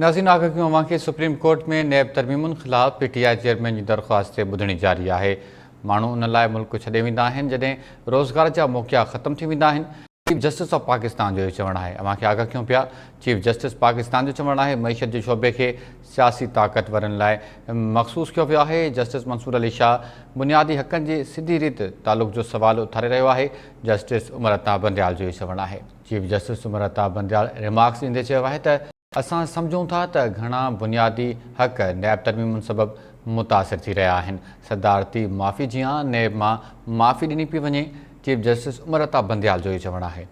ناظرين آگهيون اوهان کي سپريم ڪورٽ ۾ نيب ترميمن خلاف پي ٽي آء چيئرمين جي درخواست تي ٻڌڻي جاري آهي ماڻهو ان لاء ملڪ ڇڏي ويندا آهن جڏهن روزگار جا موقعا ختم ٿي ويندا آهن چيف جسٽس آف پاڪستان جو اهو چوڻ آهي اوهان کي آگاهه ڪيون پيا چيف جسٽس پاڪستان جو چوڻ آهي معيشت جي شعبي کي سياسي طاقتورن لاء مخصوص ڪيو ويو آهي جسٽس منصور علي شاهه بنيادي حقن جي سڌي ريت تعلق جو سوال اٿاري رهيو آهي جسٽس عمر عطا بنديال جو اهو چوڻ آهي chief justice Somra Altaf Bandial remarks ڏيندي چيو آهي ته اسان سمجهون ٿا ته گهڻا بنيادي حق نيب ترميمن سبب متاثر ٿي رهيا آهن، صدارتي معافي جيان نيب مان معافي ڏني پئي وڃي، چيف جسٽس عمر الطاف بنديال جو اهو چوڻ آهي.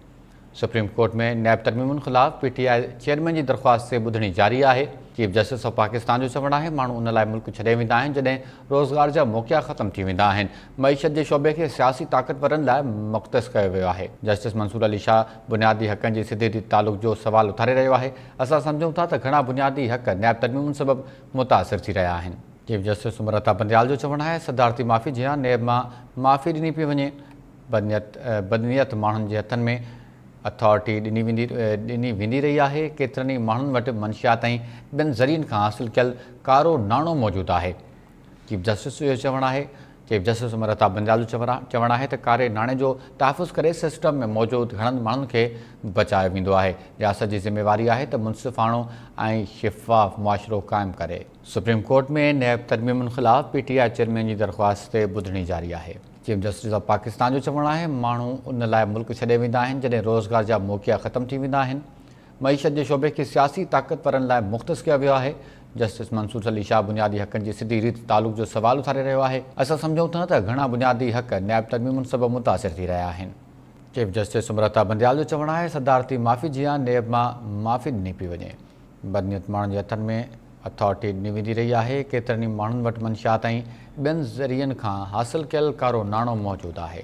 سپريم ڪورٽ ۾ نيب ترميمن خلاف پي ٽي آء چيئرمين جي درخواست تي ٻڌڻي جاري آهي، چيف جسٽس آف پاڪستان جو چوڻ آهي ماڻهو ان لاء ملڪ ڇڏي ويندا آهن جڏهن روزگار جا موقعا ختم ٿي ويندا آهن، معيشت جي شعبي کي سياسي طاقتورن لاء مختص ڪيو ويو آهي، جسٽس منصور علي شاهه بنيادي حقن جي سڌي ريت تعلق جو سوال اٿاري رهيو آهي، اسان سمجهون ٿا ته گهڻا بنيادي حق نيب ترميمن سبب متاثر ٿي رهيا آهن. چيف جسٽس عمر عطا بنديال جو چوڻ آهي صدارتي معافي جيان نيب مان معافي ڏني پئي وڃي، بدنيت ماڻهن جي هٿن ۾. اٿارٽي ڏني ويندي ڏني ويندي رهي آهي، ڪيترن ئي ماڻهن وٽ منشيات ۽ ٻين ذريعن کان حاصل ڪيل ڪارو ناڻو موجود آهي. چيف جسٽس جو چوڻ آهي. چيف جسٽس مرتا بنجال جو چوڻ آهي ته ڪاري ناڻي جو تحفظ ڪري سسٽم ۾ موجود گهڻن ماڻهن کي بچايو ويندو آهي، رياست جي ذميواري آهي ته منصفاڻو ۽ شفاف معاشرو قائم ڪري. سپريم ڪورٽ ۾ نيب ترميمن خلاف پي ٽي آء چيئرمين جي درخواست تي ٻڌڻي جاري آهي. چيف جسٽس آف پاڪستان جو چوڻ آهي ماڻهو ان لاء ملڪ ڇڏي ويندا آهن جڏهن روزگار جا موقعا ختم ٿي ويندا آهن معيشت جي شعبي کي سياسي طاقتورن لاء مختص ڪيو ويو آهي جسٽس منصور علي شاهه بنيادي حقن جي سڌي ريت تعلق جو سوال اٿاري رهيو آهي اسان سمجهون ٿا ته گهڻا بنيادي حق نيب ترميمن سبب متاثر ٿي رهيا آهن چيف جسٽس سمرتا بنديال جو چوڻ آهي صدارتي معافي جيان نيب مان معافي ڏني پئي وڃي. بدنيت ماڻهن جي هٿن ۾ اٿارٽي ڏني ويندي رهي آهي، ڪيترن ئي ماڻهن وٽ منشيات ۽ ٻين ذريعن کان حاصل ڪيل ڪارو ناڻو موجود آهي.